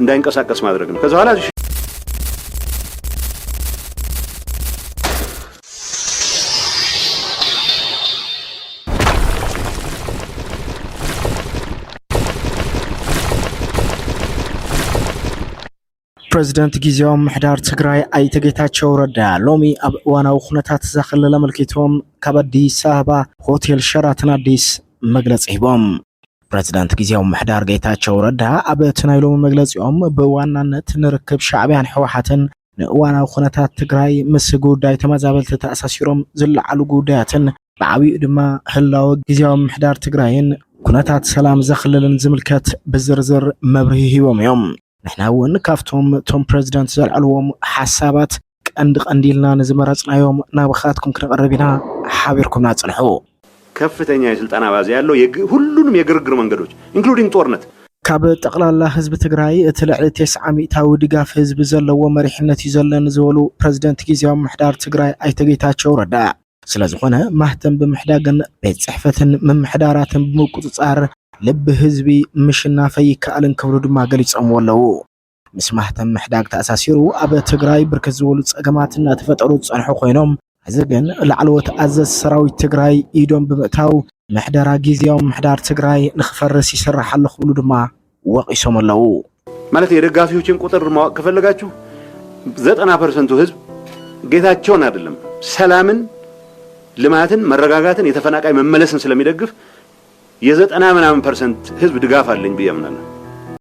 እንዳይንቀሳቀስ ማድረግ ነው። ከዛ በኋላ ፕረዚደንት ግዜያዊ ምሕዳር ትግራይ ኣይተ ጌታቸው ረዳ ሎሚ ኣብ እዋናዊ ኩነታት እዛ ክልል ኣመልኪቶም ካብ ኣዲስ ኣበባ ሆቴል ሸራተን ኣዲስ መግለፂ ሂቦም። ፕረዚደንት ግዜያዊ ምሕዳር ጌታቸው ረዳ ኣብቲ ናይ ሎሚ መግለፂኦም ብዋናነት ንርክብ ሻዕቢያን ሕወሓትን ንእዋናዊ ኩነታት ትግራይ ምስ ጉዳይ ተመዛበልቲ ተኣሳሲሮም ዝለዓሉ ጉዳያትን ብዓብይኡ ድማ ህላወ ግዜያዊ ምሕዳር ትግራይን ኩነታት ሰላም ዘኽልልን ዝምልከት ብዝርዝር መብርሂ ሂቦም እዮም። ንሕና እውን ካብቶም እቶም ፕረዚደንት ዘልዐልዎም ሓሳባት ቀንዲ ቀንዲ ኢልና ንዝመረፅናዮም ናብኻትኩም ክነቕርብ ኢና ሓቢርኩምና ፅንሑ። ከፍተኛ የስልጣን ኣባዜ ኣሎ የግ ሁሉንም የግርግር መንገዶች ኢንክሉዲንግ ጦርነት። ካብ ጠቕላላ ህዝቢ ትግራይ እቲ ልዕሊ ቴስዓ ሚእታዊ ድጋፍ ህዝቢ ዘለዎ መሪሕነት እዩ ዘለኒ ዝበሉ ፕረዚደንት ጊዚያዊ ምምሕዳር ትግራይ ኣይተ ጌታቸው ረዳ፣ ስለዝኾነ ማህተም ብምሕዳግን ቤት ፅሕፈትን ምምሕዳራትን ብምቁፅፃር ልቢ ህዝቢ ምሽናፈ ይከኣልን ክብሉ ድማ ገሊፆምዎ ኣለው። ምስ ማህተም ምሕዳግ ተኣሳሲሩ ኣብ ትግራይ ብርክት ዝበሉ ፀገማት እናተፈጠሩ ዝፀንሑ ኮይኖም እዚ ግን ላዕለዎት ኣዘዝ ሰራዊት ትግራይ ኢዶም ብምእታው ምሕደራ ጊዜያዊ ምሕዳር ትግራይ ንክፈርስ ይስራሕ ኣሎ ክብሉ ድማ ወቒሶም ኣለዉ። ማለት የደጋፊዎችን ቁጥር ማወቅ ከፈለጋችሁ ዘጠና ፐርሰንቱ ህዝብ ጌታቸውን አይደለም ሰላምን፣ ልማትን፣ መረጋጋትን የተፈናቃይ መመለስን ስለሚደግፍ የዘጠና ምናምን ፐርሰንት ህዝብ ድጋፍ አለኝ ብዬ አምናለሁ።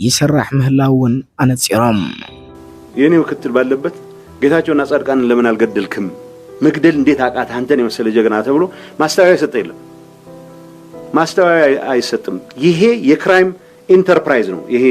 ይስራሕ ምህላው እውን ኣነፂሮም። የኔ ምክትል ባለበት ጌታቸው እና ጻድቃንን ለምን አልገደልክም? መግደል እንዴት አቃት? አንተን የመሰለ ጀግና ተብሎ ማስተባበያ የሰጠ የለም። ማስተባበያ አይሰጥም። ይሄ የክራይም ኢንተርፕራይዝ ነው። ይሄ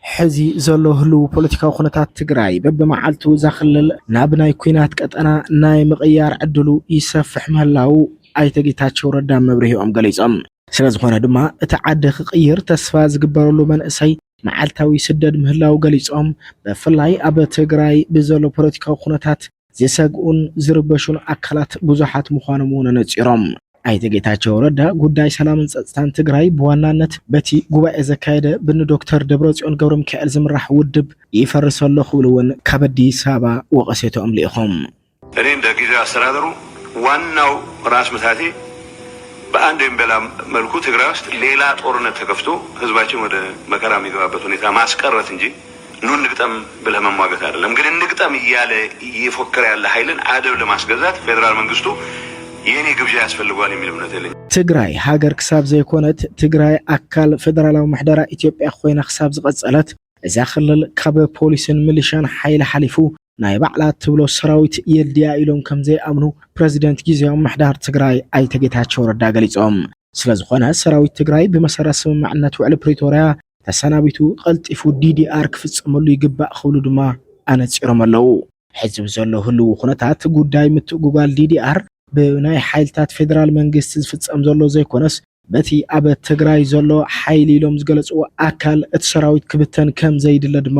ሕዚ ዘሎ ህልው ፖለቲካዊ ኩነታት ትግራይ በብመዓልቱ እዛ ክልል ናብ ናይ ኩናት ቀጠና ናይ ምቕያር ዕድሉ ይሰፍሕ ምህላው ኣይተ ጌታቸው ረዳ መብርሂኦም ገሊፆም። ስለዝኾነ ድማ እቲ ዓዲ ክቕይር ተስፋ ዝግበረሉ መንእሰይ መዓልታዊ ይስደድ ምህላዉ ገሊፆም። ብፍላይ ኣብ ትግራይ ብዘሎ ፖለቲካዊ ኩነታት ዝሰግኡን ዝርበሹን ኣካላት ብዙሓት ምዃኖም እውን ኣነፂሮም። ኣይተ ጌታቸው ረዳ ጉዳይ ሰላምን ፀፅታን ትግራይ ብዋናነት በቲ ጉባኤ ዘካየደ ብኒ ዶክተር ደብረፅዮን ገብረሚካኤል ዝምራሕ ውድብ ይፈርስ ኣሎ ክብሉ እውን ካብ ኣዲስ ኣበባ ወቐሴትኦም ልኢኾም። እኔ እንደ ጊዜያዊ አስተዳደሩ ዋናው ራስ ምታቴ በአንድ ወይም በሌላ መልኩ ትግራይ ውስጥ ሌላ ጦርነት ተከፍቶ ህዝባችን ወደ መከራ የሚገባበት ሁኔታ ማስቀረት እንጂ ኑ እንግጠም ብለህ መሟገት አይደለም። ግን እንግጠም እያለ እየፎከረ ያለ ሀይልን አደብ ለማስገዛት ፌዴራል መንግስቱ የኔ ግብዣ ያስፈልገዋል የሚል እምነት የለኝም። ትግራይ ሃገር ክሳብ ዘይኮነት፣ ትግራይ ኣካል ፈደራላዊ ምሕደራ ኢትዮጵያ ኮይና ክሳብ ዝቐፀለት፣ እዛ ክልል ካብ ፖሊስን ሚሊሻን ሓይሊ ሓሊፉ ናይ ባዕላ እትብሎ ሰራዊት የድልያ ኢሎም ከምዘይኣምኑ ፕረዚደንት ጊዜያዊ ምምሕዳር ትግራይ ኣይተ ጌታቸው ረዳ ገሊፆም። ስለዝኾነ ሰራዊት ትግራይ ብመሰረት ስምምዕነት ውዕሊ ፕሪቶርያ ተሰናቢቱ ቐልጢፉ ዲዲኣር ክፍፀመሉ ይግባእ ክብሉ ድማ ኣነፂሮም ኣለው። ሕዚ ብዘሎ ህልዊ ኩነታት ጉዳይ ምትእጉጓል ዲዲኣር ብናይ ሓይልታት ፌደራል መንግስቲ ዝፍፀም ዘሎ ዘይኮነስ በቲ ኣብ ትግራይ ዘሎ ሓይሊ ኢሎም ዝገለፅዎ ኣካል እቲ ሰራዊት ክብተን ከምዘይድለ ድማ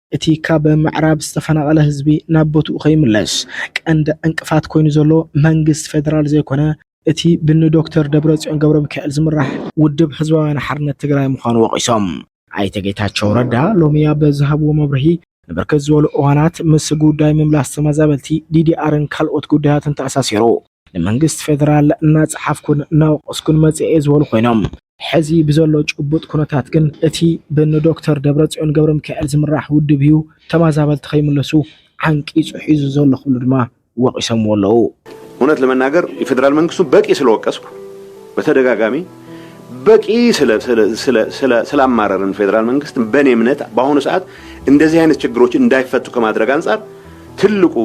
እቲ ካብ ምዕራብ ዝተፈናቐለ ህዝቢ ናብ ቦትኡ ከይምለስ ቀንዲ ዕንቅፋት ኮይኑ ዘሎ መንግስቲ ፌደራል ዘይኮነ እቲ ብኒ ዶክተር ደብረፅዮን ገብረሚካኤል ዝምራሕ ውድብ ህዝባውያን ሓርነት ትግራይ ምዃኑ ወቒሶም። ኣይተ ጌታቸው ረዳ ሎሚ ኣብ ዝሃብዎ መብርሂ፣ ንብርክት ዝበሉ እዋናት ምስ ጉዳይ ምምላስ ተመዛበልቲ፣ ዲዲኣርን ካልኦት ጉዳያትን ተኣሳሲሩ፣ ንመንግስቲ ፌደራል እናፀሓፍኩን እናወቀስኩን መፂኤ እየ ዝበሉ ኮይኖም፣ ሕዚ ብዘሎ ጭቡጥ ኩነታት ግን እቲ ብእኒ ዶክተር ደብረፅዮን ገብረሚካኤል ዝምራሕ ውድብ እዩ ተመዛበልቲ ከይምለሱ ዓንቂፁ ሒዙ ዘሎ ክብሉ ድማ ወቂሶምዎ ኣለው። እውነት ለመናገር የፌደራል መንግስቱ በቂ ስለወቀስኩ በተደጋጋሚ በቂ ስላማረርን ፌደራል መንግስት በኔ እምነት በአሁኑ ሰዓት እንደዚህ አይነት ችግሮች እንዳይፈቱ ከማድረግ አንፃር ትልቁ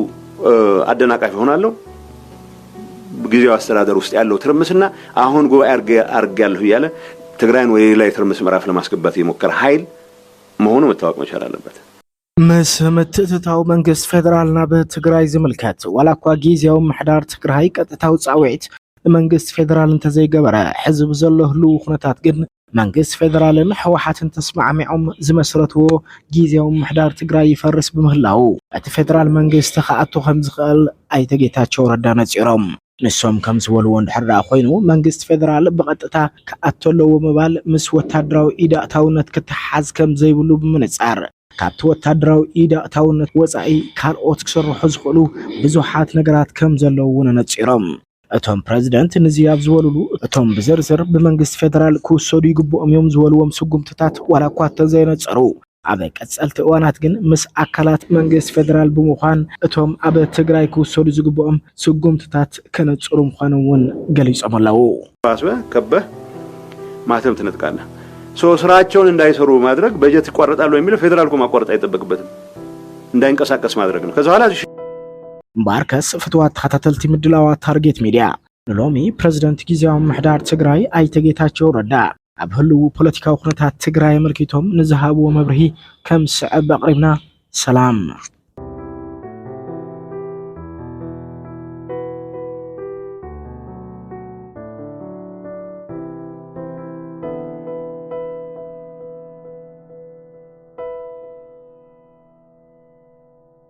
አደናቃፊ ሆናለሁ። ጊዜያዊ አስተዳደር ውስጥ ያለው ትርምስና አሁን ጉባኤ አድርጌያለሁ እያለ ትግራይን ወደ ሌላ የትርምስ ምዕራፍ ለማስገባት የሞከረ ኃይል መሆኑ መታወቅ መቻል አለበት። ምስ ምትእትታው መንግስት ፌደራል ናብ ትግራይ ዝምልከት ዋላ እኳ ጊዜያዊ ምሕዳር ትግራይ ቀጥታዊ ፃውዒት ንመንግስት ፌደራል እንተዘይገበረ ሕዚ ብዘሎ ህልው ኩነታት ግን መንግስቲ ፌደራልን ህወሓትን ተስማዕሚዖም ዝመስረትዎ ጊዜያዊ ምምሕዳር ትግራይ ይፈርስ ብምህላዉ እቲ ፌደራል መንግስቲ ክኣቱ ከምዝኽእል ኣይተ ጌታቸው ረዳ ነፂሮም። ንሶም ከምዝበልዎ እንድሕር ደኣ ኮይኑ መንግስቲ ፌደራል ብቐጥታ ክኣቱ ኣለዎ ምባል ምስ ወታደራዊ ኢድ ኣእታውነት ክተሓሓዝ ከምዘይብሉ ብምንፃር ካብቲ ወታደራዊ ኢድ ኣእታውነት ወፃኢ ካልኦት ክስርሑ ዝኽእሉ ብዙሓት ነገራት ከምዘለዉ እውን ኣነፂሮም። እቶም ፕረዚደንት ንዚ ኣብ ዝበሉሉ እቶም ብዝርዝር ብመንግስቲ ፌደራል ክውሰዱ ይግብኦም እዮም ዝበልዎም ስጉምትታት ዋላ እኳ እንተዘየነፀሩ ኣብ ቀፀልቲ እዋናት ግን ምስ ኣካላት መንግስቲ ፌደራል ብምዃን እቶም ኣብ ትግራይ ክውሰዱ ዝግብኦም ስጉምትታት ከነፅሩ ምዃኖም እውን ገሊፆም ኣለው። ባስበ ከበህ ማተም ትነጥቃለህ ሶ ስራቸውን እንዳይሰሩ በማድረግ በጀት ይቋረጣል በሚለው ፌደራል እኮ ማቋረጥ አይጠበቅበትም እንዳይንቀሳቀስ ማድረግ ነው ከዛ በኋላ እምበኣርከስ ፍትዋት ተኸታተልቲ ምድላዋት ታርጌት ሚድያ፣ ንሎሚ ፕረዚደንት ጊዝያዊ ምምሕዳር ትግራይ ኣይተ ጌታቸው ረዳ ኣብ ህልዉ ፖለቲካዊ ኩነታት ትግራይ ኣመልኪቶም ንዝሃብዎ መብርሂ ከም ዝስዕብ ኣቕሪብና። ሰላም።